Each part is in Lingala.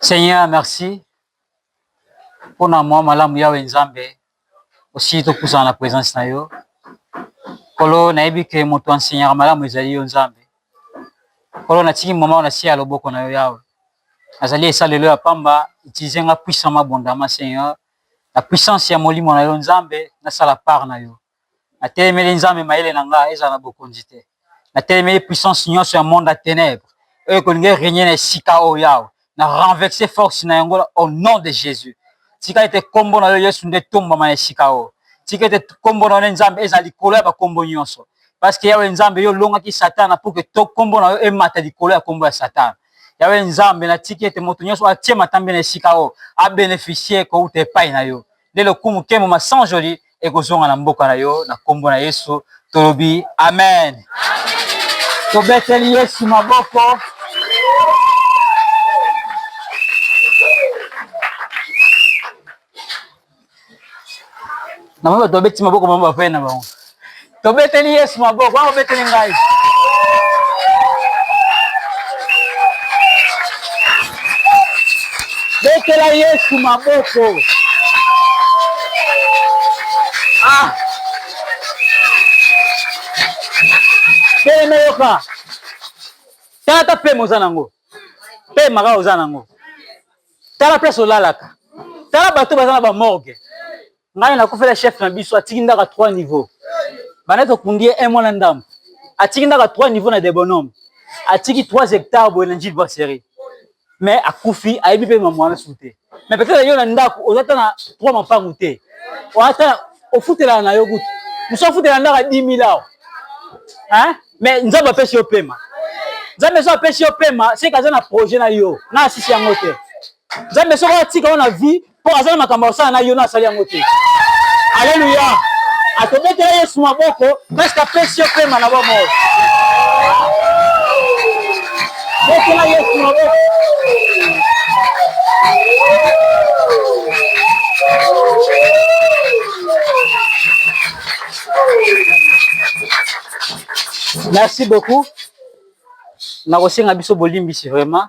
Seigneur, merci mpo na mwa malamu yawe Nzambe, osili topusana na presence na yo Nkolo. Nayebi ke moto ansenyaka malamu ezali yo Nzambe. Nkolo, natiki mama na se ya loboko na yo yawe, azali esalelo ya pamba. Utilize nga puissamment abondama Seigneur, na puissance ya molimo na yo Nzambe, nasala part na yo Natelemeli Nzambe mayele na nga ezala na bokonzi te. Natelemeli puissance nyonso ya monde ya tenèbres oyo ekolinga e regner na esika oyo Yawe. Na renverser force na yango au nom de Jesus. Tika ete kombo na yo Yesu nde etombwama na esika oyo. Tika ete kombo na yo nde Nzambe ezala likolo ya ba kombo nyonso. Parce que Yawe Nzambe yo olongaki Satana pour que to kombo na yo emata likolo ya kombo ya Satana. Yawe Nzambe natiki ete moto nyonso atie matambe na esika oyo a beneficier kowuta epai na yo. nde lokumu nkembo masanjoli ekozonga na mboka na yo na nkombo na yesu tolobi amen, amen. tobeteli yesu maboko namoni bato babeti maboko bango bapene na bango Tobeteli Yesu maboko, wana obeteli ngai. Betela Yesu maboko. Ah. Telema yoka. Tata pema oza nango. Pema kaka oza nango. Tala place olalaka. Tala bato baza na ba morgue. ngai nakufela chef na biso atiki ndaka 3 niveau banda tokundi ye un mois na ndambo atiki ndaka 3 niveau na debonome atiki 3 hectare boye na njili brasserie mais akufi ayebi mpe mamu wana su te mais peut-être yo na ndako oza ata na 3 mapangu te ata ofutelaka na yo kutu mosu afutela ndaka 10 000 awa mais nzambe apesi yo pema nzambe so apesi yo pema seke aza na projet na yo na asisi yango te nzambe soko atika yo na vie mpo aza na makambo ya kosala na yo na asali yango te aleluya akobetela yesu maboko preske apesi yo pema na bomoi betela yesu maboko merci beaucoup nakosenga biso bolimbisi vraiment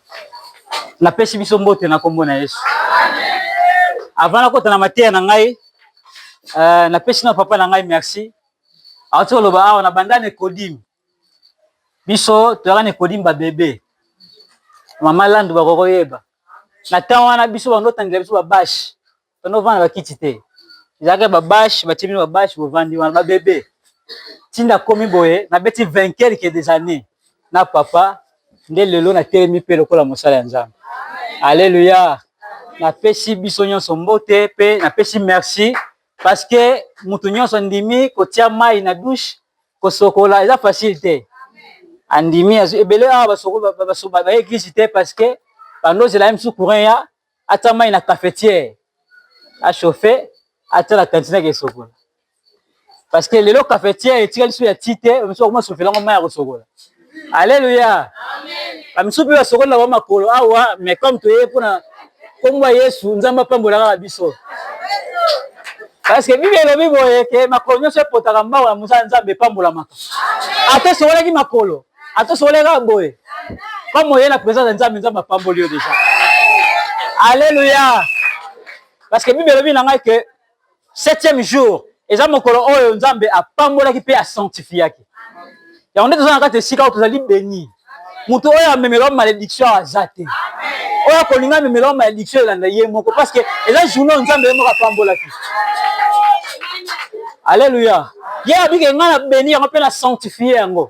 napesi biso mbote na nkombo na Yesu. Avant nakota na mateya na ngai, uh, napesi na papa na ngai merci. Awati koloba awa na banda Nikodime, biso toyaka Nikodime babebe, mama Landu bakokoyeba na temps wana biso bando otangela biso babashi Tono vanda ba kiti te. Ezalaka ba bâche, ba timi ba bâche bo vandi wana ba bebe. Tinda komi boye na beti 20 quelques des années na papa nde lelo na telemi pe lokola mosala ya Nzambe. Alléluia. Napesi biso nyonso mbote pe napesi merci parce que mutu nyonso ndimi kotia mai na douche kosokola eza facile te. Andimi ebele awa basoko ba ba ba ba église te parce que bando zela même sous courant ya Atia mai na cafetiere a chauffer, atia na cantine ake sokola. Parce que lelo cafetiere etikali so ya ti te, ba misusu bakoma chauffer yango mai ya kosokola. Alleluia. Amen. Ba misusu pe basokoli na ba makolo awa, mais comme toye pona kombo ya Yesu, Nzambe apambola kaka biso. Parce que Bible elobi boye ke makolo nyonso epotaka mbangu ya mosala Nzambe epambolamaka. Ata esokolaki makolo, atosoleka boye comme oye na présence ya nzambe nzambe apamboli yo déjà alleluya parce que bible elobi na ngai ke septième jour eza mokolo oyo nzambe apambolaki mpe asanctifiaki yango nde toza na kati esika oyo tozali beni moto oyo amemela yo malédiction aza te oyo akolinga amemela yo malédiction elanda ye moko parce que eza journée oyo nzambe ye moko apambolaki alleluya ye abike ngai na beni yango mpe na sanctifie yango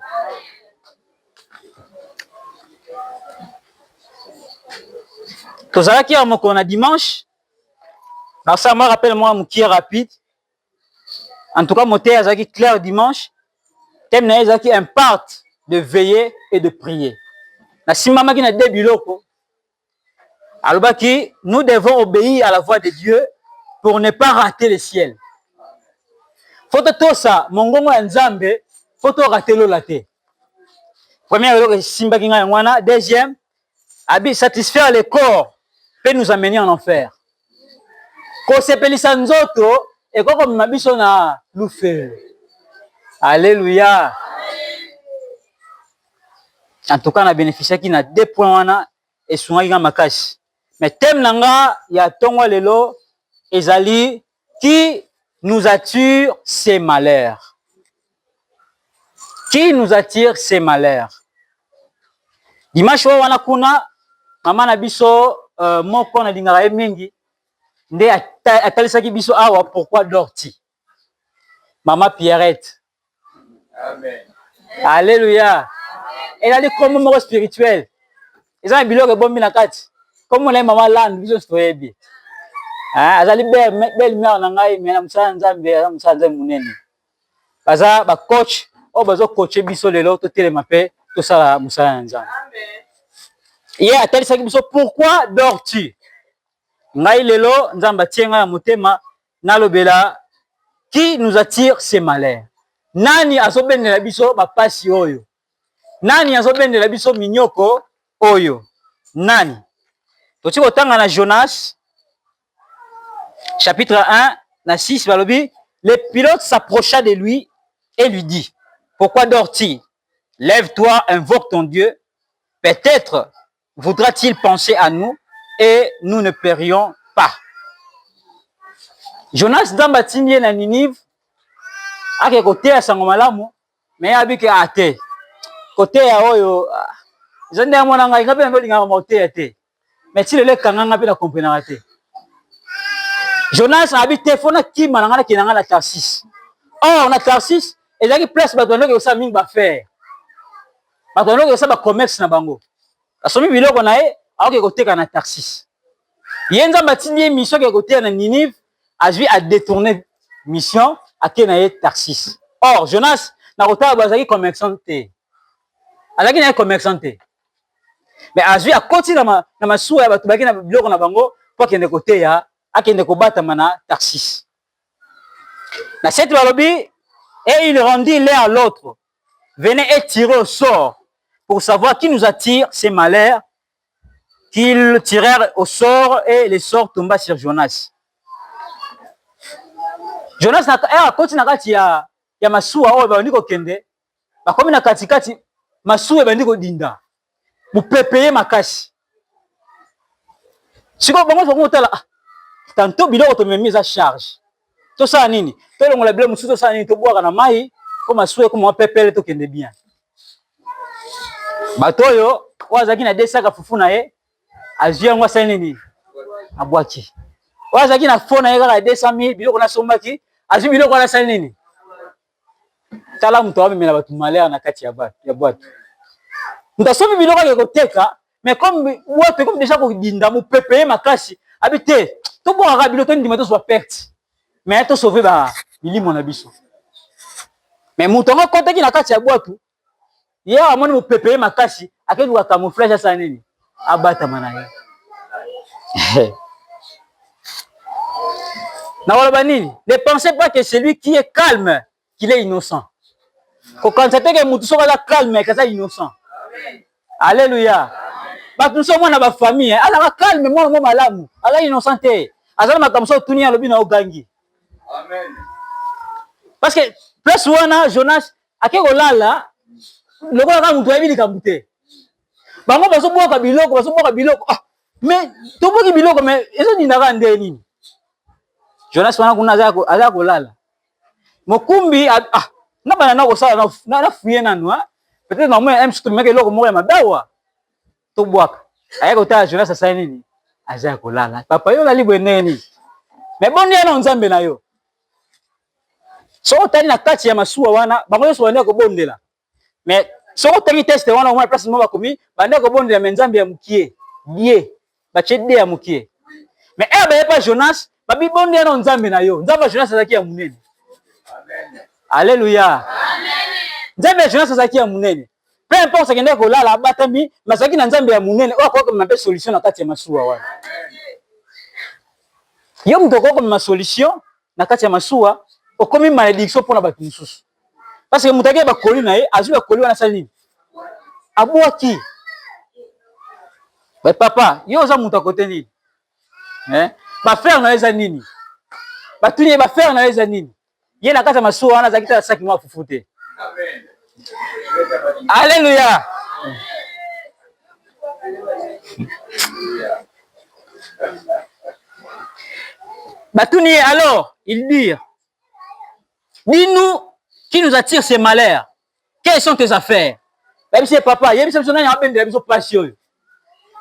tozalaki ya mokolo na dimanche nasala mwa rappel mwa mokie rapide en tout cas moteyi azalaki claire dimanche teme na ye ezalaki imparte de veiller et de prier nasimbamaki na de biloko Alobaki, nous devons obéir à la voix de Dieu pour ne pas rater le ciel. Faut totosa mongongo ya Nzambe, faut to rater lola te. Première eloko esimbaki ngai yango wana, deuxième, abi satisfaire le corps peut nous amener en enfer. Kosepelisa nzoto ekoki komema biso na lufelo. Aleluya! En tout cas, na beneficiaki na deux points wana esungaki nga makasi. Mais thème na nga ya tongo lelo ezali qui nous attire ces malheurs. Qui nous attire ces malheurs? Dimanche oyo wana kuna mama na biso uh, moko nalingaka ye mingi nde atalisaki biso awa pourquoi dorti mama pierrette amen alleluia elali kombo moko spirituel eza na biloko ebombi na kati kombo na ye mama lande biso nyonso toyebi ah, azali belle mare na ngai me na mosala nzambe aza mosala nzambe monene baza ba coach oyo bazo coacher biso lelo totelema mpe tosala mosala na Nzambe. Ye atalisaki biso pourquoi dors-tu? Ngai lelo Nzambe atie ngai na motema nalobela qui nous attire ce malheur. Nani azobendela biso bapasi oyo? Nani azobendela biso minyoko oyo? Nani? Tokoki kotanga na Jonas Chapitre 1, na 6, balobi, le pilote s'approcha de lui et lui dit, pourquoi dors-tu? Lève-toi, invoque ton Dieu, peut-être voudra-t-il penser à nous et nous ne périons pas. Jonas Nzambe atindi ye na Ninive ake koteya sango malamu me abi ke ate ah, koteya oyo ah, eza nde ya mwana ngai ngai mpe nalingaka makoteya te Mais ti lelo ekanga nga pe na comprenaka te. Jonas abi te fona kima na nga na kina nga na Tarsis. Or na Tarsis ezalaki place bato bandaki kosala mingi ba faire. Bato bandaki kosala ba commerce na bango. Asomi biloko na ye aoke koteka na Tarsis. Ye Nzambe atindi ye mission ke koteya na Ninive, azwi a détourner mission ake na ye Tarsis. Or Jonas na kotala bazalaki commerçant te. Azalaki na ye commerçant te. Mais azui akoti na, ma, na masuwa ya bato baki na biloko na bango mpo akende koteya, akende kobatama na Tarsis. Na seti balobi, et il rendit l'un à l'autre, venez et tirez au sort pour savoir qui nous attire ces malheurs qu'ils tirèrent au sort et le sort tomba sur Jonas. Jonas na, eh, akoti na kati ya, ya masuwa oyo baondi kokende bakomi na katikati, masuwa ebandi kodinda, mopepe ye makasi. Sikoyo bango nyonso bakotala, ah, tanto biloko tomemi eza charge, tosala nini? Tolongola biloko mosusu, tosala nini? Tobwaka na mai mpo masuwa ekoma mwa pepele, tokende bien. Bato oyo oyo azalaki na desaka fufu na ye azwi yango, asali nini? Abwaki. Oyo azalaki na fo na ye kaka 200 000 biloko nasombaki, azwi biloko wana, asali nini? tala moto amemela bato malheur na kati ya bwato moto asomi biloko ake koteka mais comme bwato ekomi deja kodinda mopepe ye makasi abi te tobwakaka bilo tondima tozwa perte mais tosauve ba bilimo na biso mais moto yango akotaki na kati ya bwato ye awa amoni mopepe ye makasi akei luka camouflage asala nini abatama na ye nakoloba nini ne pensez pas que celui qui est calme qu'il est innocent kokanisa te ke motu soki aza calme ke aza innocent alleluya bato mosusu omona bafamille eh, azalaka calme mwana mo malamu aza innocent te aza na makambo soki otuni alobi na ogangi parce que place wana jonas ake kolala lokola kaka moto ayebi likambo te bango bazobwaka biloko bazobwaka biloko ah, me tobwaki biloko me ezodindaka nde nini jonas wana kuna aza kolala mokumbi ah, ah na bana na kosala na fuye nanu ah. peut-être namona mc tomemaki eloko moko ya mabe awa tobwaka aya kotala jonas asali nini aza ya kolala papa yo olali boye ndenge nini me boni yana o nzambe na yo soki otali na kati ya masuwa wana bango nyonso banda kobondela me soki otangi teste wana omona place moko bakomi banda kobondela me nzambe ya mokie die batie de ya mokie me ere baye pa jonas babibondela na nzambe na yo nzambe ya jonas azalaki ya monene aleluya nzambe ya jonas azalaki ya monene peu importe akendaki kolala abatami mazalaki na nzambe ya monene oyo akoki komema mpe solution na kati ya masuwa wana yo moto okoki komema solution na kati ya masuwa okomi malediction mpo na bato mosusu parce que moto ake bakoli na ye azwi bakoli wana asali nini abwaki papa yo oza moto akote nini eh ba faire na eza nini ba tuni ba faire na eza nini ye na kata masuwa wana azaki ta saki mwa fufu te amen alleluia batuni ye alors il dit dis-nous qui nous attire ces malheurs Quelles sont tes affaires? Yebisa ye papa, yebisa biso nani abendela biso pasi oyo.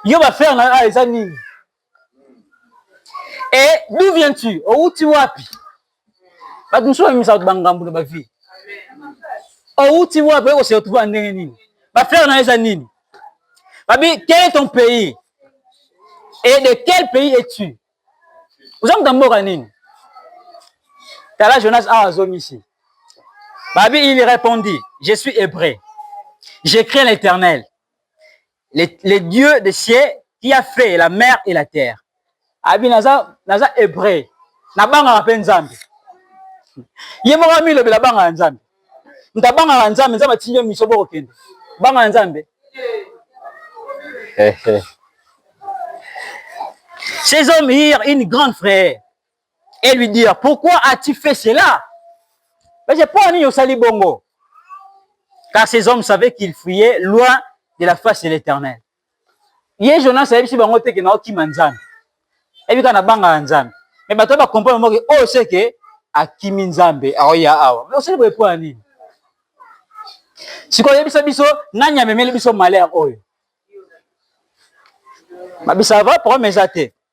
Yo ba frère na ah, eza nini? Et d'où viens-tu? Outi wapi? Bato mosusu bamemisa bato bangambo na bavie. Outi wapi? Oko se retrouver ndenge nini? Ba frère na eza nini? Babi, quel est ton pays? Et de quel pays es-tu? oza moto ya mboka nini tala jonas awa azongisi babi il répondit je suis hébreu je crains l'éternel le, le dieu de ciel qui a fait la mer et la terre abi naza naza hébreu nabangaka mpe nzambe ye moko amilobela banga ya nzambe moto abangaka nzambe nzambe atindi yo miso bokokende banga na nzambe eh, eh. ces hommes hier une grande frère et lui dire pourquoi as-tu fait cela mais j'ai pas ni osali bongo car ces hommes savaient qu'ils fuyaient loin de la face de l'éternel ye jonas ayebisi bango te ke naokima nzambe ayebi kaka nabangaka nzambe me bato oyo bakomprendre moke oyo seke akimi nzambe aoya awa me osali boye mpo ya nini sikoyo oyebisa biso nani amemeli biso malere oyo mabisava problème eza te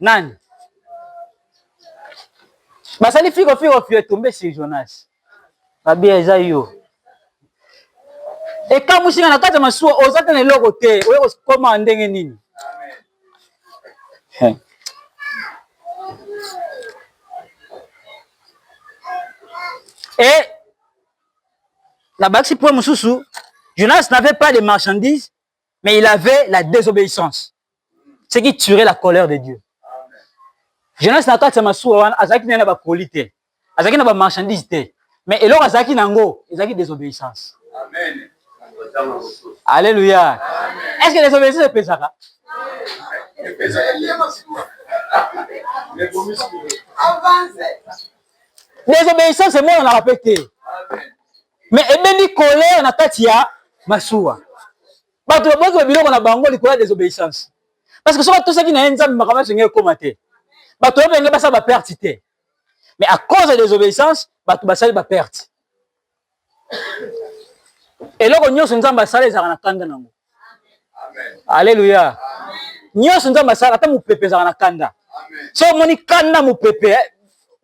Nani? Basali fiko fiko fio tombe sur Jonas. Babia eza yo. Ekamwisi nga na kati ya masuwa oza te na eloko te oye kokoma ndenge nini? Amen. Et la bakisi point mosusu Jonas n'avait pas de marchandises mais il avait la désobéissance ce qui tuerait la colère de Dieu Jonas na kati ya masuwa wana azalaki na ba colis te azalaki na ba marchandises te mais eloko azalaki nango ezalaki désobéissance amen Alléluia. Est-ce que les obéissants epesaka? Désobéissance emonanaka mpe te. mais ebendi colère na kati ya masuwa bato baboyaki ba biloko na bango likolo ya desobéissance parce que soki atosaki na ye nzambe makambo nyonso engei ekoma te bato oyo benge basala baperte te mais à cause ya desobéissance bato basali baperte eloko nyonso nzambe asala ezalaka na kanda na yango Alléluia. Nyonso Nzambe asala ata mopepe ezalaka na kanda. So omoni kanda mopepe eh,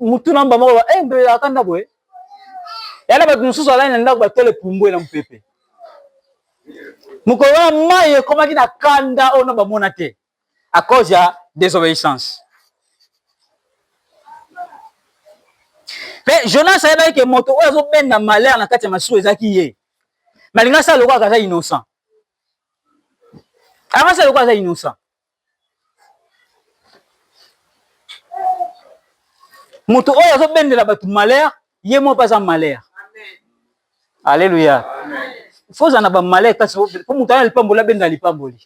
mutu na mba moko eh mbe akanda boye. Yana bato mosusu alani na ndako batole pumbwe na mopepe. Mokolo wana mai ekomaki na kanda oyo na bamona te. à cause ya désobéissance mpe jonas ayebaki ke moto oyo azobenda malheur na kati ya masuwa ezalaki ye malinga asala lokola aza innocent akasala lokola aza innocent moto oyo azobendela bato malheur ye moko mpe aza malheur Aleluya. Faut ozala na ba malheur kasi po moto aza na lipamboli abenda lipamboli.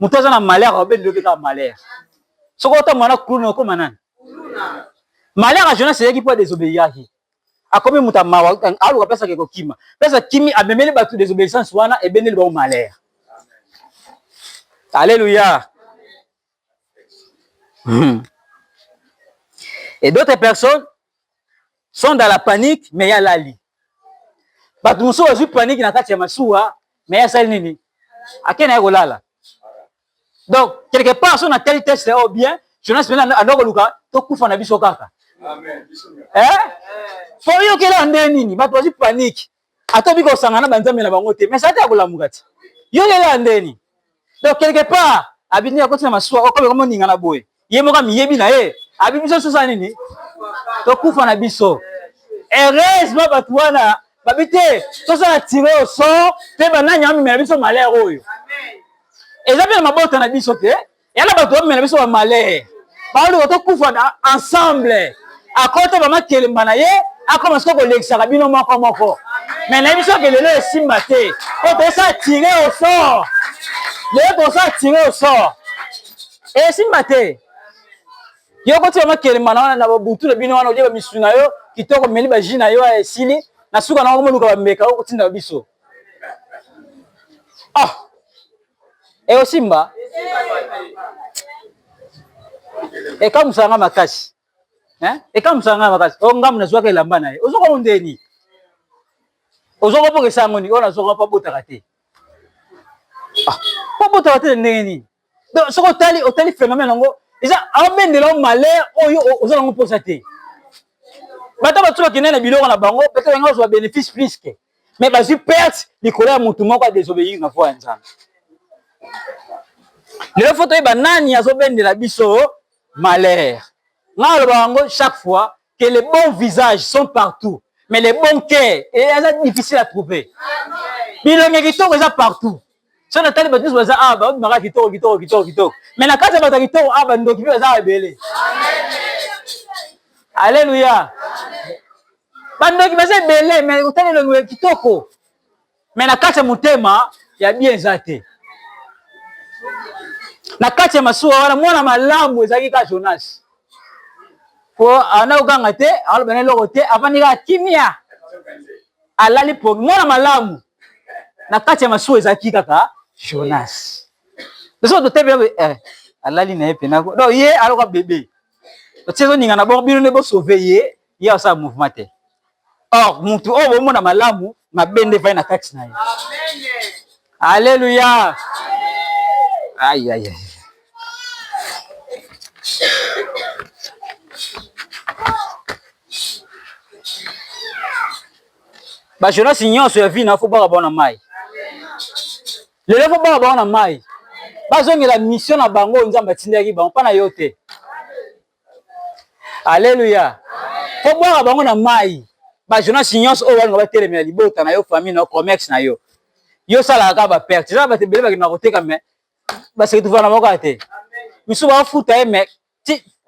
Moto aza na malheur abenda yo mpe kaka malheur. Soki otambola na kuluna okoma nani? Malheur ya Jonas eyaki mpo adesobeyaki. Akomi moto ya mawa, aluka place ake kokima. Place akimi amemeli bato desobeyissance wana ebendeli bango malheur. Aleluya. Hmm. Et d'autres personnes sont dans la panique mais ya lali. Bato mosusu bazwi panique na kati ya masuwa mais ya sali nini? Ake na ye kolala. Donc quelque part so na tali test au bien, Jonas mena ando koluka to kufa na biso kaka. Amen. Eh? Fo yo kela nde nini? Bato bazwi panique. ata obi kosanga na banzambe na bango te mais ata ya kolamuka te yo lelo ya ndeni donc quelque part abindi akoti na masuwa okomi komo ninga na boye ye moko amiyebi na ye abi biso sosa nini tokufa na biso heureusement bato wana babi te tosala tire au sort mpe banani amemela biso malheur oyo eza mpe na mabota na biso te ya na bato bamela biso bamalere baluka tokufa na ensemble akota bama kelemba na ye akoma siko kolekisaka bino moko moko me na biso ke lelo esimba te po tosa tire au sort lelo tosa tire au sort esimba te yo koti bama kelemba na wana na babutu na bino wana olie bamisu na yo kitoko meli baji na yo esili na suka na okomoluka bambeka okotinda biso ah Eh osimba. Ekamusa nga makasi. Hein? Ekamusa nga makasi. Oh ngamu nazwaka elamba na ye. Ozoko mondeni. Ozoko poke sango ni ona zoko pa botaka te. Ah, pa botaka te ndenge nini? Donc soko otali otali phénomène yango eza abendela yo malheur oyo oza nango mposa te. Bato batubaki nene biloko na bango, peut-être yango azwa bénéfice plus que. mais bazwi perte likolo ya mutu moko a desobeyir na voix ya Nzambe. Lelo faut toyeba nani azobendela biso malheur. Nga alobaka yango chaque fois que les bons visages sont partout mais les bons cœurs eza difficile à trouver. Bilongi kitoko eza partout soki natali bato nyonso baza awa babimaka kitoko kitoko kitoko kitoko me na kati ya bato ya kitoko awa bandoki mpe baza awa ebele aleluya bandoki baza ebele me kotala elongi ya kitoko me na kati ya motema ya bien eza te na kati ya masuwa wana mwana malamu ezalaki kaka jonas po ana koganga te alobana eloko te avandi kaka kimia alali pongi mwana malamu na kati ya masuwa ezalaki kaka jonas biso totebi eh, alali na ye mpena no ye aloka bebe otie ezoningana boko bino nde bosauve ye ye asala mouvement te or motu oyo bomona malamu mabe nde vai na kati na ye alleluya ayaya ba Jonas nyonso ya vie na faut baka bona mai lelo faut baka bona mai bazongela mission na bango nzambe atindaki bango mpa na yo te aleluya faut bwaka bango na mai ba Jonas nyonso oyo balinga batelemela libota na yo famille na yo commerce na yo yo osalaka kaka baperte eza bato ebele bakendaka koteka me baseketuvana moko te misusu bafuta ye me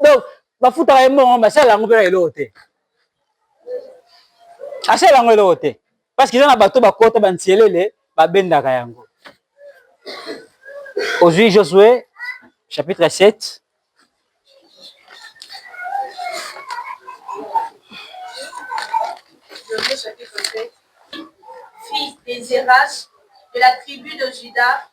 donc bafutaka ye mbongo mais asalela yango mpe na eloko te asalela yango eloko te parce que eza na bato bakota bantielele babendaka yango ozwi josue chapitre 7 Josue chapitre 7 fils des Zéras de la tribu de Judas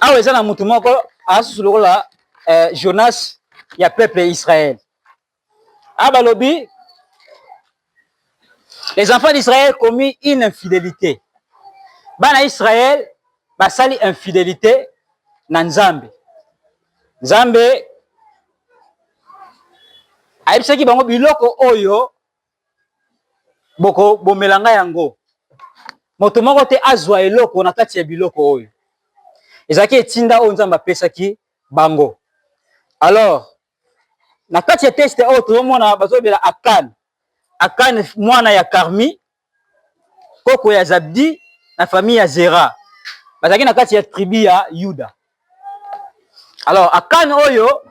awa eza na motu moko asusu lokola eh, jonas ya peuple israel a balobi les enfants d'israël commis une infidélité bana israel basali infidélité na nzambe nzambe ayebisaki bango biloko oyo bokobomela ngai yango. Moto moko te azwa eloko na kati ya biloko oyo. Ezalaki etinda oyo Nzambe apesaki bango. Alors, na kati ya teste oyo tozomona bazobela Akan. Akan mwana ya Karmi, koko ya Zabdi na famille ya Zera. Bazalaki na kati ya tribu ya Yuda. alors akane oyo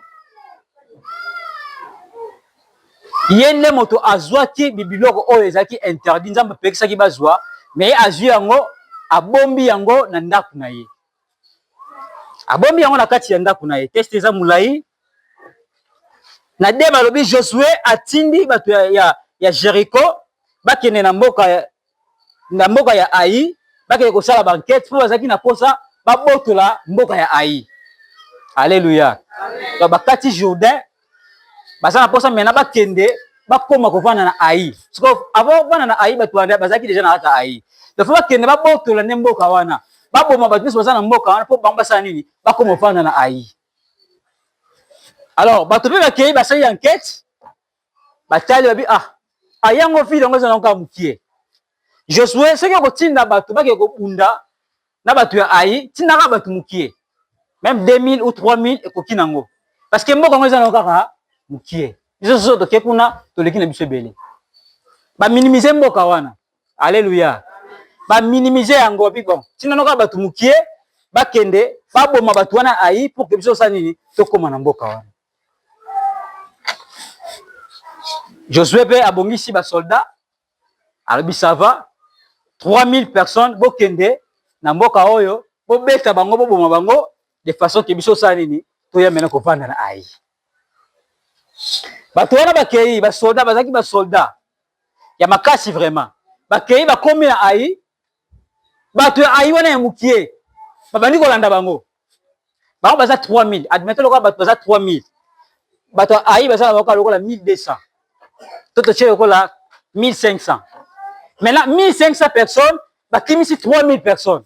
ye nde moto azwaki bibiloko oyo ezalaki interdit nzambe apekisaki bazwa me ye azwi yango abombi yango na ndako na ye abombi yango na kati ya ndako na ye teste eza molai na de balobi josue atindi bato ya, ya, ya jericho bakende na mboka ya, na mboka ya ai bakende kosala bankete mpo bazalaki na mposa babotola mboka ya ai alleluya donc bakati jourdain baza na mposa mena bakende bakoma kovanda na ai siko avant kovanda na ai bato wana bazalaki deja na kati ya ai donc fo bakende babotola nde mboka wana baboma bato nyonso baza na mboka wana mpo bango basala nini bakoma kovanda na ai alors bato mpe bakei basali enquete batali babi ah ayango vile yango eza nango mokie josue soki okotinda bato bake kobunda na bato ya ai tindaka bato mokie meme 2000 ou 3000 ekoki nango parce que mboka yango eza nango kaka mokie biso soso toke kuna toleki na biso ebele baminimise mboka wana Alléluia. Ba minimiser yango bi bon. Tina noka batu mukie bakende baboma batu wana ayi pour que biso sa nini tokoma na mboka wana. Josué pe abongisi ba soldats alobi ça va 3000 personnes bokende na mboka oyo bobeta bango boboma bango de façon que biso sa nini toya mena kovanda na ayi. bato wana bakei basolda bazalaki basolda ya makasi vraiment bakei bakomi na ai bato ya ai wana ya mokie babandi kolanda bango bango baza 3000 admete lokola bato baza 3000 bato ya ai baza na bakoka lokola 1200 to totie lokola 1500 maintenant 1500 personnes bakimisi 3000 personnes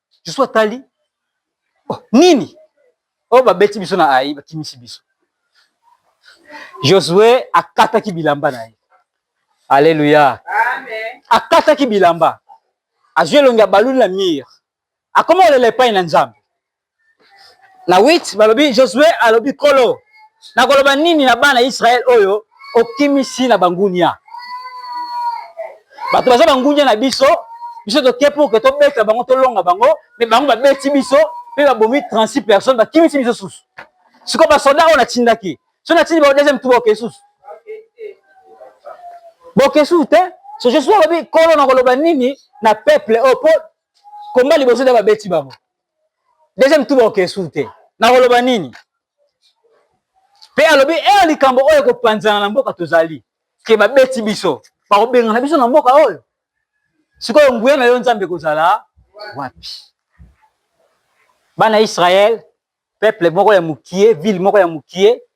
Susu atali oh, nini oyo oh, babeti biso na ai, bakimisi biso. Josue akataki bilamba na ye. Aleluya, akataki bilamba, azwi elongi ya baluni na mire, akoma kolela epai na Nzambe. na 8 balobi josue alobi kolo nakoloba nini na bana israele oyo okimisi na bangunia bato baza bangunia na biso biso toke pour ke tobeta bango tolonga bango me bango babeti biso mpe babomi 36 personnes bakimisi biso susu sikoyo basoda oyo natindaki so natindi bao deuxième tour oke susu boke susu te so je suis alobi kolo nakoloba nini na peuple oyo mpo komba liboso nde babeti bango Deuxième tour bakokende susu te. Nakoloba nini? Mpe alobi ee eh, likambo oyo ekopanzana na mboka tozali ke babeti biso bakobengana biso na mboka oyo sikoyo nguya na yo nzambe ekozala wapi bana israel peuple moko ya mokie ville moko ya mokie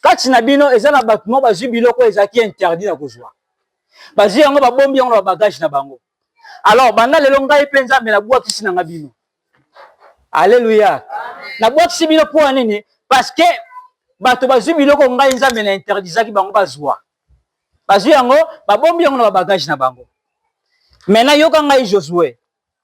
kati na bino eza na bato moko bazwi biloko ezalaki interdit na kozwa, bazwi yango babombi yango na babagage na bango. Alors banda lelo ngai mpe Nzambe nabwakisi na ngai bino. Aleluya, nabwakisi bino mpo ya nini? Parce que bato bazwi biloko ngai Nzambe na interdisaki bango bazwa, bazwi yango babombi yango na babagage na bango. Maintenant yoka ngai Josue,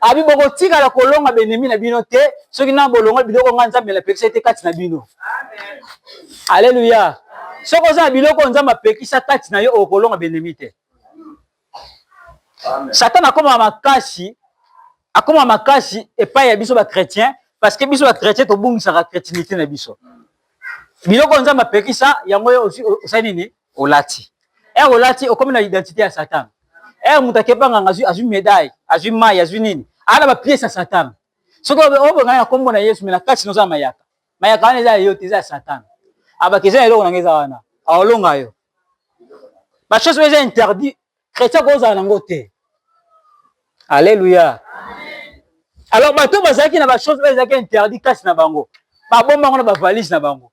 abi bokotikala kolonga benemi na bino te soki nano bolongoli biloko ngai nzambe napekisa ete kati na bino aleluya soki oza na biloko oyo nzambe apekisa kati na yo okolonga benemi te satana akoma makasi akoma makasi epai ya biso bachrétien parce que biso bachrétien tobungisaka chrétinité na biso biloko oyo nzambe apekisa yango yo osali nini olati ere olati okomi na identite ya satan ere moto akeba nganga azwi azwi medaille azwi mai azwi nini aa na bapiese ya satan soki obengana na nkombo na yesu me na kati noza mayaka mayaka wana eza ya yo te eza ya satan abaki eza na eloko nanga eza wana aolonga yo bachose oyo eza interdit chrétien akozala nango te alleluya alors bato bazalaki na bachose oyo ezalaki interdit kati na bango babomba yango na bavalise na bango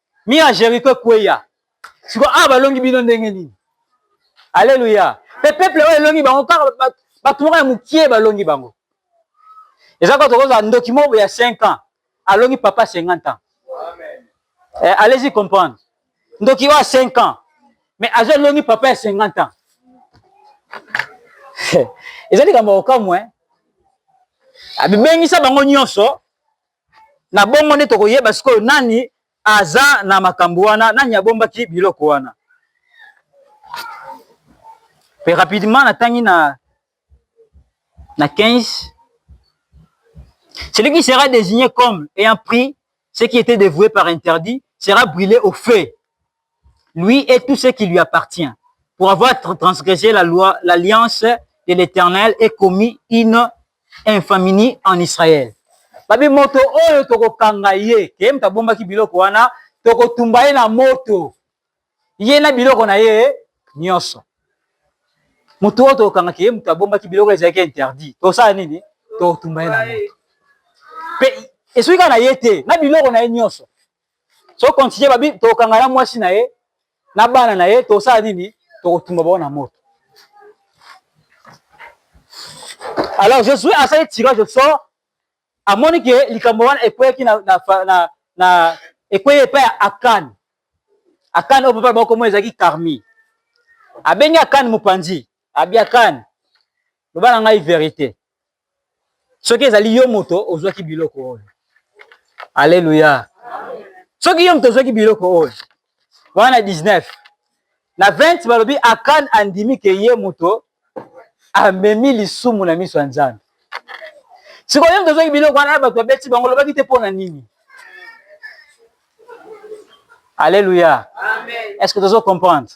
Mire ya Jericho ekweya. Sikoyo awa balongi bino ndenge nini? Aleluya. Pe peuple oyo elongi bango kaka bato moko ya mokie balongi bango. Eza kaka tokozala ndoki moko ya 5 ans alongi papa 50 ans. Amen. Eh, allez-y comprendre. Ndoki oyo 5 ans mais azo longi papa ya 50 ans. Eza likambo okamwe. Abibengisa bango nyonso Na bongo nde tokoyeba sikoyo nani aza na makambo wana, nani abombaki biloko wana. Pe rapidement natangi na na 15 celui qui sera designer comme ayant pris ce qui etait devouer par interdit sera brule au feu lui et tout ce qui lui appartient, pour avoir transgressé la loi, l'alliance de l'Eternel et commis une infamie en Israël. Babi moto oyo tokokanga ye, ke moto abombaki biloko wana, tokotumba ye na moto, ye na biloko na ye nyonso. Moto oyo tokokanga ke moto abombaki biloko ezalaki interdit, tosala nini? Tokotumba ye na moto. Pe esuki kaka na ye te, na biloko na ye nyonso. so continue babi tokanga na mwasi na ye na bana na ye tosala nini tokotumba bango na moto alors josue asali tirage au sort amoni ke likambo wana ekweyaki na, na, na, na ekweyi epai ya akane akane oyo papa bakomo ezalaki karmi abengi akane mopanzi abi akane loba na ngai verite soki ezali yo moto ozwaki biloko oyo aleluya soki yo moto ozwaki biloko oyo wana 19 na 20 balobi akan andimi ke ye moto amemi lisumu na miso ya nzambe sikoyo yo moto ozwaki biloko wana ya bato babeti bango olobaki te mpo na nini aleluya est ce que tozo comprendre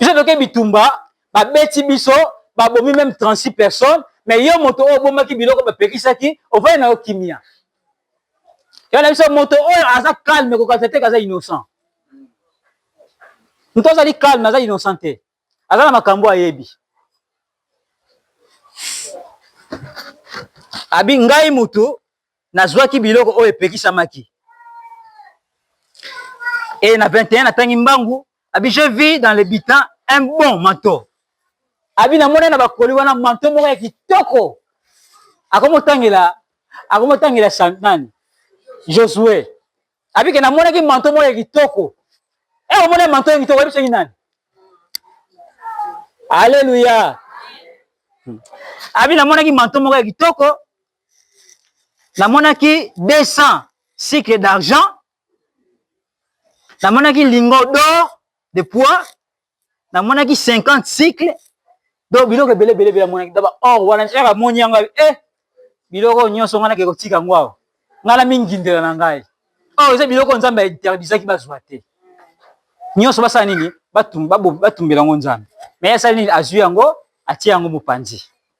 biso toke bitumba ba beti biso ba bomi meme 36 personnes mais yo moto oyo obomaki biloko ba pekisaki ovandi na yo kimia yo na biso moto oyo aza calme ko kalisa te kaza innocent moto azali calme aza innocent te aza na makambo ayebi abi ngai mutu Nazwaki biloko oyo epekisamaki. Et na 21 natangi mbangu abi je vis dans le bitan un bon manteau. Abi na mona na bakoli wana manteau moko ya kitoko. Akomotangela akomotangela Santani. Josue. Abi ke na mona ki manteau moko ya kitoko. Eh omona manteau ya kitoko ebisaki nani? Alléluia. Abi na mona ki manteau moko ya kitoko. namonaki 200 cycle d'argent namonaki lingo d'or de poids namonaki 50 cycle do biloko ebele ebele ebele amonaki daba or wana nsaka amoni yango e eh, biloko oyo nyonso ngai nake kotika yango awa ngai na mingindela na ngai or eza biloko nzambe ainterdisaki bazwa te nyonso basala nini batumbela yango nzambe me asali nini azwi yango atie yango mopanzi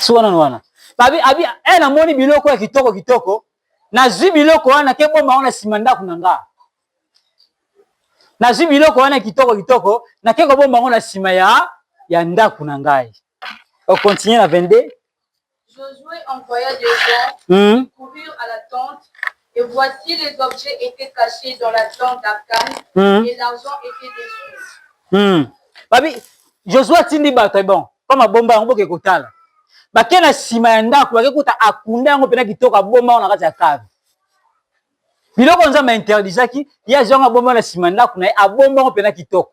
suka nano wana babi abi e namoni biloko ya kitoko kitoko nazwi biloko wana ke bomba wana nsima ndako na nga nazwi biloko wana kitoko kitoko nake kobomba yango na nsima ya ya ndako na ngai okontinue na 22 Josué envoya des gens mmh. courir à la tente Et voici les objets etait cache dans la tente d'Akan mm. et l'argent était dessous. Mm. Babi, Josué atindi bato bon, mpo mabomba yango boke kotala. Bake na nsima ya ndako, bake kuta akunda yango mpena kitoko, abomba yango na kati ya kave. Biloko Nzambe interdisaki, ye azwa yango abomba na nsima ndako na ye, abomba yango mpena kitoko.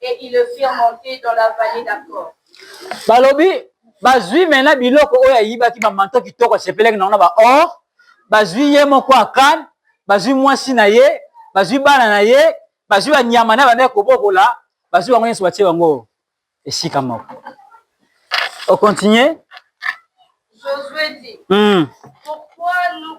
et ils le firent monter dans la vallée d'Accor. Balobi bazui maintenant biloko oyo ayibaki ba manteau kitoko asepelaki na ba or, bazui ye moko Akan, bazui mwasi na ye, bazui bana na ye, bazui ba nyama na bana kobokola, bazui bango nyonso batie bango esika moko. Au continuer. Josué dit, hmm. pourquoi nous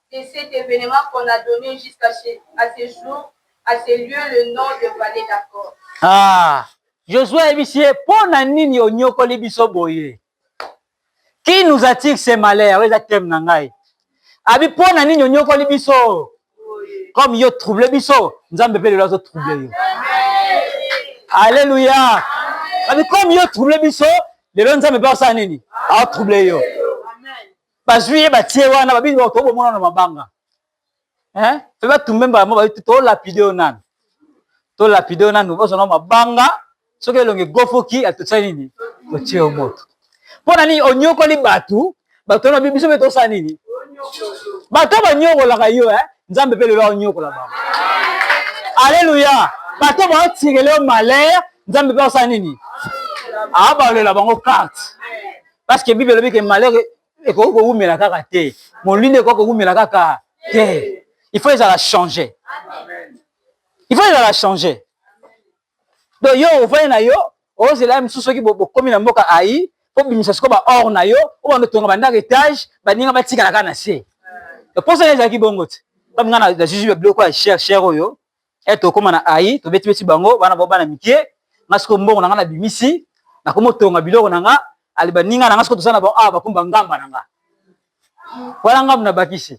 de cet evenement qu'on a donne jusqu'à à ce jour à ce lieu le nom de valley d'accord. Ah! Josue ayebisi ye mpo na nini onyokoli biso boye? Qui nous attire ce malheur? Oyo eza thème na ngai. Abi mpo na nini onyokoli biso? Comme yo trouble biso, Nzambe mpe lelo azo trouble yo. Alléluia. Abi comme yo trouble biso, lelo Nzambe mpe asala nini? Azo trouble yo. bazwi ye batie wana babi bato bomona na mabanga eh pe batumbe mbala mo babi to lapide yo nanu to lapide yo nanu bozana mabanga soki elongi gofoki atotisa nini otie yo moto mpo na nini onyokoli bato bato wana babi biso mpe tosala nini bato banyokolaka yo eh nzambe mpe lelo aonyokola bango aleluya bato baotirele yo malere nzambe mpe osala nini abalela bango karte Parce que Bible elobi que malheur ekoki kowumela kaka te. Molili ekoki kowumela kaka te. Il faut ezala changer. Il faut ezala changer. Donc yo ovandi na yo ozela ye mosusu soki bokomi na mboka ayi obimisa sikoyo ba or na yo obanda otonga bandako etage baninga batikala kaka na se. Mposa ezalaki bongo te. Kami nga na juge biloko ya cher cher oyo e tokoma na ai tobeti beti bango bana bao bana mike nga siko mbongo na nga na bimisi na komo tonga biloko na nga ali baninga na nga siko tosala na bango awa bakumba ngamba na nga wana ngambo na bakisi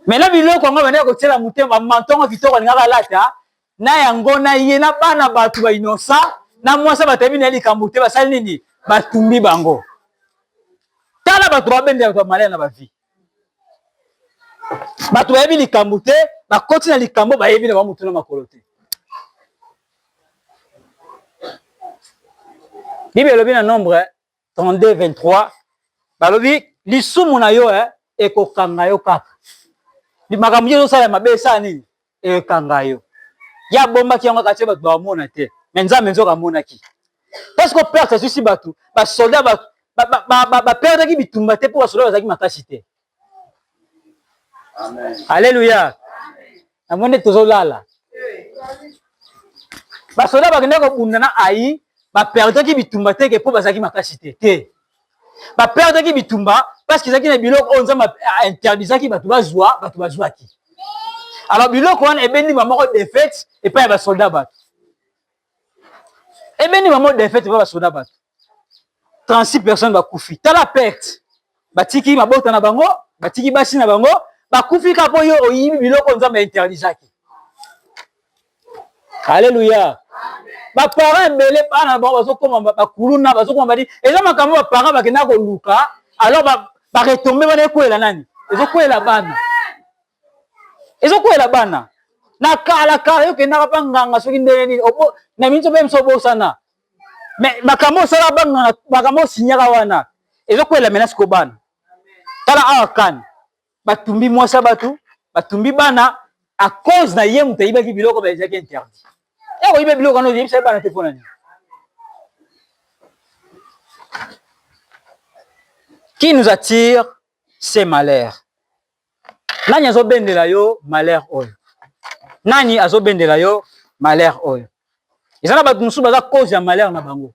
mena biloko yango bana ya kotiela motema mantongo kitoko alingaka alata na yango na ye na bana bato ba inosa na mwasi batayebi na ye likambo te basali nini batumbi bango tala bato babendela bato ya malaya na bavie bato bayebi likambo te bakoti na likambo bayebi na bamutu na makolo te bible elobi na nombre 32 23 balobi lisumu na yo eh, ekokanga yo kaka makambo nini ozosala mabe esala nini ekanga yo ye abombaki yango kati bato bamona te me nzambe nzoka amonaki parce que perte azwisi bato basoldat baperdaki bitumba te mpo basoldat bazalaki makasi te alleluya namoni tozolala basoldat bakendaki kobunda na ayi baperdaki bitumba teke mpo bazalaki makasi te te ba perdaki bitumba parce que ezalaki na biloko oyo nzambe interdisaki bato bazwa bato bazwaki alors biloko wana ebendi bamoko defete epai ya basoldat bato ebendi bamoko defete epai basoldat bato 36 personnes bakufi tala perte batiki mabota na bango batiki basi na bango bakufi kaka mpo yo oyibi biloko nzambe interdisaki Alléluia. Ba parents ebele bana bango bazokoma bakuluna bazokoma badi eza makambo ba parents bakenda koluka alors ba ba retomber wana ekwela nani ezokwela bana ezokwela bana na kala kala yo kendaka pa nganga soki ndenge nini na minso mpe biso obosana mais makambo osala banganga makambo osinyaka wana ezokwela mena siko bana tala awa kani batumbi mwasi ya bato batumbi bana à cause na ye moto ayibaki biloko ba ezalaki interdit ya koyiba biloko wana oyebisa bana te mpo na nini qui nous attire c'est malheur nani azobendela yo malheur oyo nani azobendela yo malheur oyo eza na bato mosusu baza cause ya malheur na bango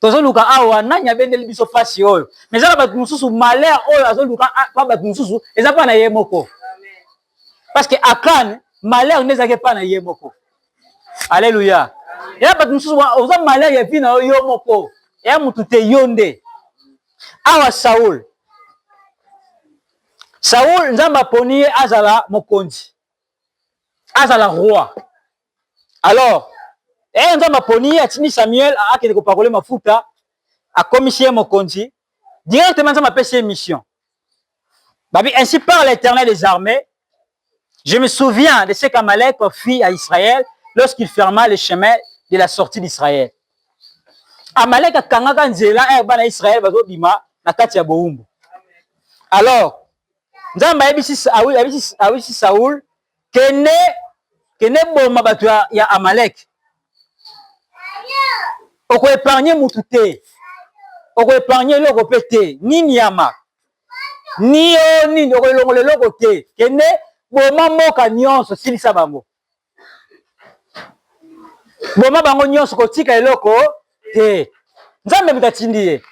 tozoluka awa nani abendeli biso pasi oyo mais eza na bato mosusu malheur oyo azoluka pa ah, bato mosusu eza mpa na ye moko parce que akan malheur nde ezalaki mpa na ye moko alleluya eya bato mosusu oza malheur ya vi na yo yo moko eya motu te yo nde awa saul saul nzambe aponi ye azala mokonzi azala roi alors eye nzambe aponi ye atindi samuel akende kopakole mafuta akomisi ye mokonzi directement nzambe apesi ye mission babi ainsi par l'éternel des armées je me souviens de ce qu'amalek fit à israël lorsqu'il ferma le chemin de la sortie d'israël amalek akangaka nzela ere eh, bana israel bazobima na kati ya bowumbu alors nzambe ayebisi saul Kende, kende boma bato ya, ya Amalek. Oko epargne mutu te, oko epargne eloko pe te, ni nyama ni yo nini, oko elongola eloko te. Kende boma mboka nyonso, silisa bango, boma bango nyonso, kotika eloko te. Nzambe moto atindi ye.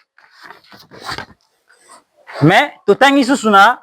Mais totangi susu na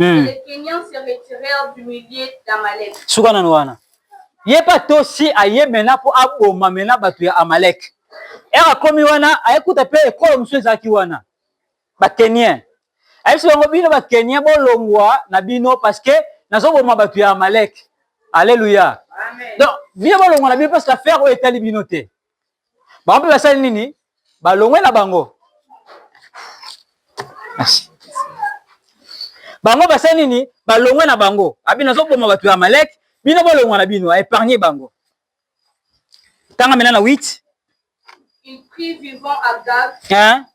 Hmm. Suka nanu wana. Ye pa tosi aye mena po aboma mena bato ya Amalek. Ere akomi wana ayekuta pe ekolo mosusu ezalaki wana. Ba Kenien. Ayebisi bango bino ba Kenien bolongwa na bino parce que nazoboma bato ya Amalek. Alléluia. Donc bino bolongwa na bino parce que affaire oyo etali bino te. bango mpe basali nini balongwe na bango merci bango basali nini balongwe na bango abi nazoboma bato ya amaleke bino bolongwa na bino aépargne bango tanga mena na 8 Il prit vivant Agag, hein?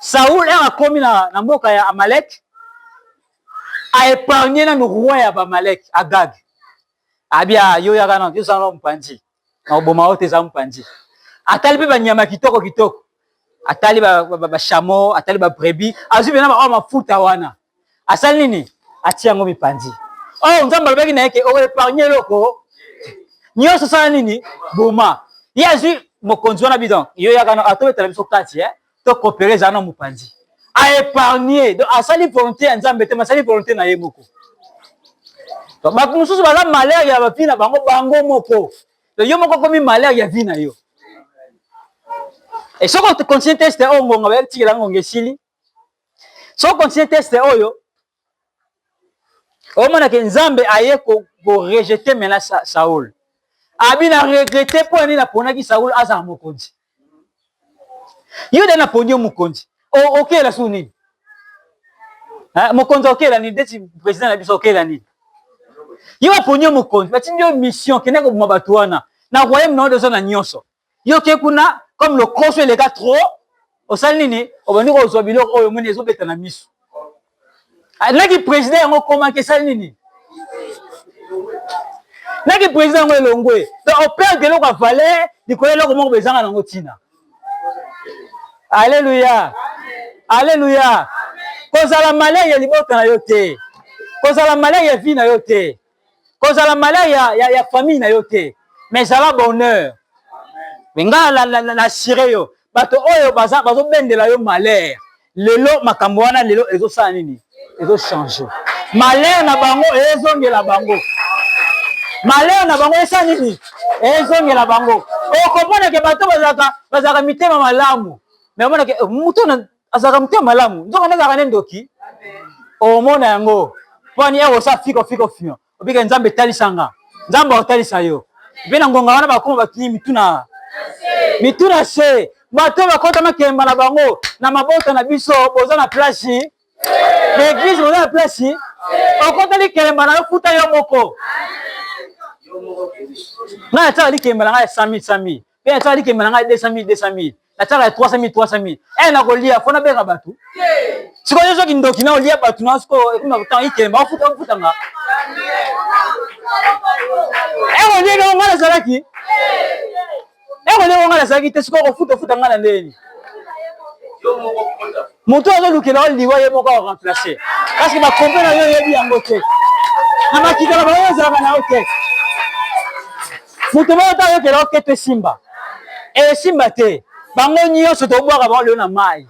Saul heure akomi na, na mboka ya Amalek a épargner nanu roi ya Bamalek Agag. Abia ah, yo yaka na yo zana mpanzi. Na oboma ote za mpanzi. Atali pe banyama kitoko kitoko. Atali ba, ba, ba, ba chameau, atali ba brebis, azui bena ba mafuta wana. asali nini atie yango mipanzi oh nzambe alobaki na ye ke oepargne eloko nyonso osala nini boma ye azwi mokonzi wana bidon yo yakana atobetala biso kati eh? to kopere ezala na mopanzi aepargne donc asali volonté ya nzambe te masali volonté na ye moko bato mosusu baza malere ya bavi na bango bango moko yo moko okomi malere ya vi na yo e soki okontinue teste oyo ngonga bayekitikela ngonga esili so continue teste oyo omona ke nzambe aye korejete ko mena sa, saul abi na regrete mpo ya nini naponaki saul azala mokonzi yo nde naponi yo mokonzi okela okay, su nini mokonzi okela nini ndeti président na biso okela nini yo baponi yo mokonzi batindi yo mission kende koboma bato wana na royaume na yo oza na nyonso yo ke kuna comme lokoso eleka trop osali nini obandi kozwa biloko oyo omoni ezobeta na miso ah, naki président yango komaki esali nini naki président yango elongwe donc operde eloko ya valeur likolo eloko moko bezanga nango ntina alleluya alleluya kozala malere ya libota na yo te kozala malere ya vie na yo te kozala malheur ya, ya, ya famille na yo te mais zala bonheur me ngai na, na, na, na assure yo bato oyo baza bazobendela yo malheur lelo makambo wana lelo ezosala nini ezochange malheur na bango ezongela bango malheur na bango esala nini ezongela bango okomonake bato bazalaka bazalaka mitema malamu me omonake eh, moto na azalaka motema malamu nzoka nde azalaka nde ndoki omona yango pwani eko sa fiko fiko fio obika nzambe talisanga nzambe akotalisa yo mpe na ngonga wana bakoma batungi mituna mituna se bato oyo bakota makemba na bango na mabota na biso boza na plasi na eglise boza na plasi okota likemba na yo futa yo moko ngai atyaka likemba na ngai ya sami sami mpe atyaka likembe na ngai 200 mille 200 mille natyaka ya 300 mille 300 mille e nakolia mpo nabenga bato sikoyo soki ndoki na olia bato na sikoyo ekomi na kotanga ikembe bakofuta nga eko ndenge yango ngai nazalaki eko ndenge yango ngai nazalaki te sikoyo kofuta ofuta ngai na ndenge nini moto azolukela yo liwa ye moko aremplace parceke bakompe na yo oyebi yango te na makita na bango ezalaka na yo te moto moko te ayokela yo keto esimba esimba eh, te bango nyonso tobwaka bango lelo na mai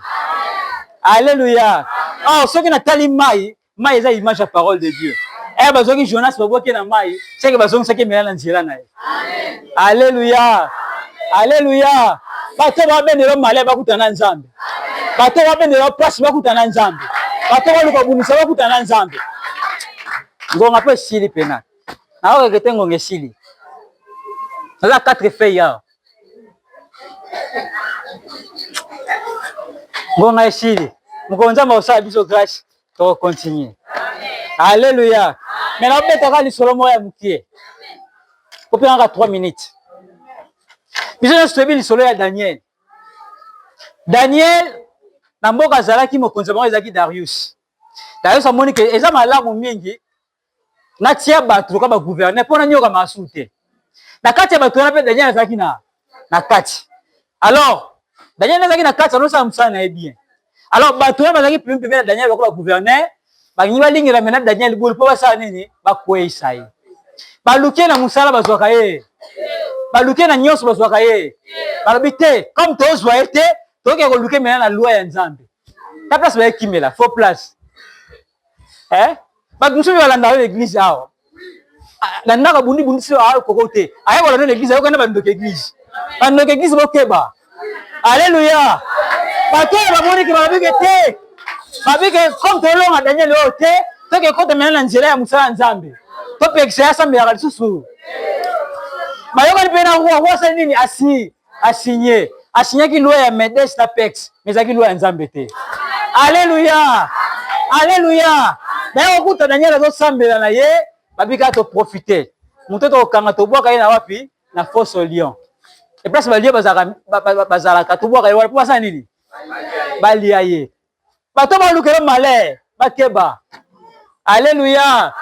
aleluya awa ah, soki natali mai Mai eza image ya parole de Dieu. Eh bazoki Jonas baboke na mai, seke bazongisaki mela na nzela na ye. Alléluia. Alléluia. Bato babendela male bakutana na Nzambe. Bato babendela pasi bakutana na Nzambe. Bato baluka bunisa bakutana na Nzambe. Ngonga pe sili pena. Na oyo kete ngonga esili. Naza quatre feuilles awa. Ngonga esili. Mokolo Nzambe akosala biso grâce. to continue Alléluia. Mais na beta ka lisolo moko ya mukie. Ko pena ka 3 minutes. Biso na sobi lisolo ya Daniel. Daniel na mboka azalaki mokonzi moko ezalaki Darius. Darius amoni ke eza malamu mingi natia bato lokola bagouverneur mpo nanyoka masu te na kati ya bato wana mpe daniel azalaki na, na kati alors daniel nde azalaki na kati anosala mosala na ye bien alors bato wana bazalaki pembe pembe na daniel lokola bagouverneur balingi balingela mena daniel bulu mpo basala nini bakweisa ye baluke na mosala bazwaka ye baluke na nyonso bazwaka ye balobi te comme tozwa ye te toke koluke mena na loi ya nzambe ta place bayekimela faux place eh bato mosusu balandaka yo na eglize awa ah, na ndako abundi bundi so akoko ah, te ayekola no na eglize ayokana bandoki eglize bandoki eglize bokeba aleluya bato oyo bamoniki babike te babike comme tolonga daniel oyo te toke ekotamela na nzela ya mosala ya nzambe topekisa ye asambelaka lisusu bayokani mpe na roi roi asali nini asi a signer a signaki loi ya medes na pex mais ezalaki loi ya nzambe te alleluia alleluia naye okuta daniel azosambela na ye babika toprofite moto tokokanga tobwaka ye na wapi na foso lion eplace balie bazalaka tobwaka ye wana mpo basala nini balia ye bato balukela malere bakeba alleluia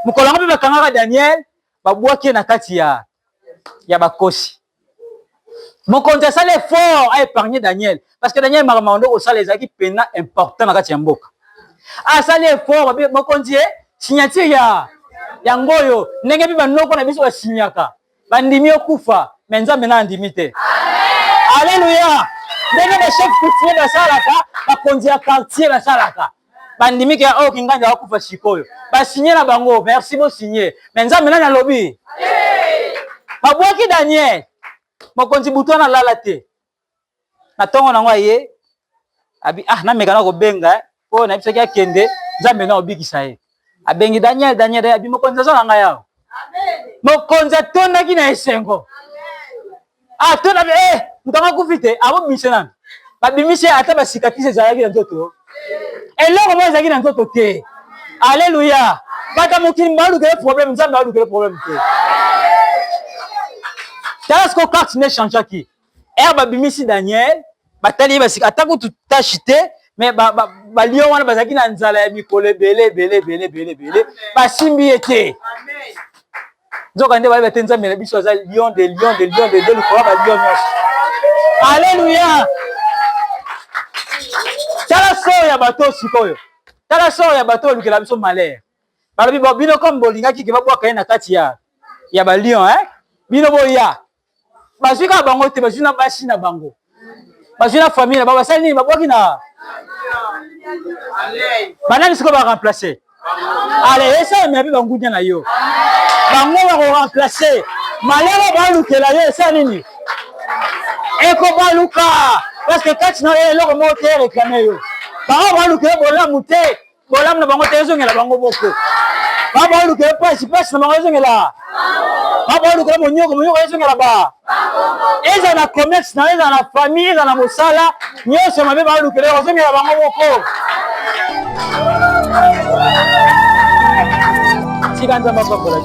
mokolo yango mpe bakangaka daniel babwaki ye na kati ya ya bakosi mokonzi asali effort a épargner daniel parce que daniel makambo makondo kosala ezalaki mpenza important na kati ya mboka asali effort babe mokonzi ye signature ya yango oyo ndenge mpe banoko na biso basinyaka bandimi okufa me nzambe na andimi te aleluya ndenge bachef coutumier basalaka bakonzi ya quartier basalaka bandimi ke oyo kingandi akufa sikoyo basigne na bango merci bosigne me nzambe nani alobi babwaki daniel mokonzi butu wana alala te na ntongo nango aye abi ah namekana kobenga eh, mpo na biso ki akende nzambe na obikisa ye abengi daniel daniel abi mokonzi aza na ngai awa mokonzi atondaki na esengo atonda ah, e eh, moto yango akufi te abobimisa nani babimisi ata basikatisi ezalaki na nzoto eloko moko ezalaki na nzoto te aleluya bato ya mokili balukele problème nzambe alukele problème te tala siko carte ne changeaki ere babimisi daniel batali ye basika ata kutu tashi te me balio wana bazalaki na nzala ya mikolo ebele ebele ebele ebele ebele basimbi ye te nzoka nde bayeba te nzambe na biso aza lion de lion de lion de lion likolo balio nyonso aleluya tala sor ya bato oyo sikoyo tala sor ya bato olukela biso malere balobi bino comme bolingaki ke babwaka ye na kati ya ya balion eh? bino boya bazwi kaka bango te bazwi na basi na bango bazwi na famille na bango basali nini babwaki na banani sikoyo baremplace ale esalamela mpe bangudia na yo bango bakoremplace malere balukela yo esala nini ekobaluka parceke kati na yo eloko moko te ereklame yo bango balukela bolamu te bolamu na bango te ezongela bango moko babaolukela mpasi mpasi na bango ezongela babaolukela monyoko monyoko ezongela ba ezala na commerce na ezala na famille ezala na mosala nyonso mabe baolukela ozongela bango moko tika nzambe apambola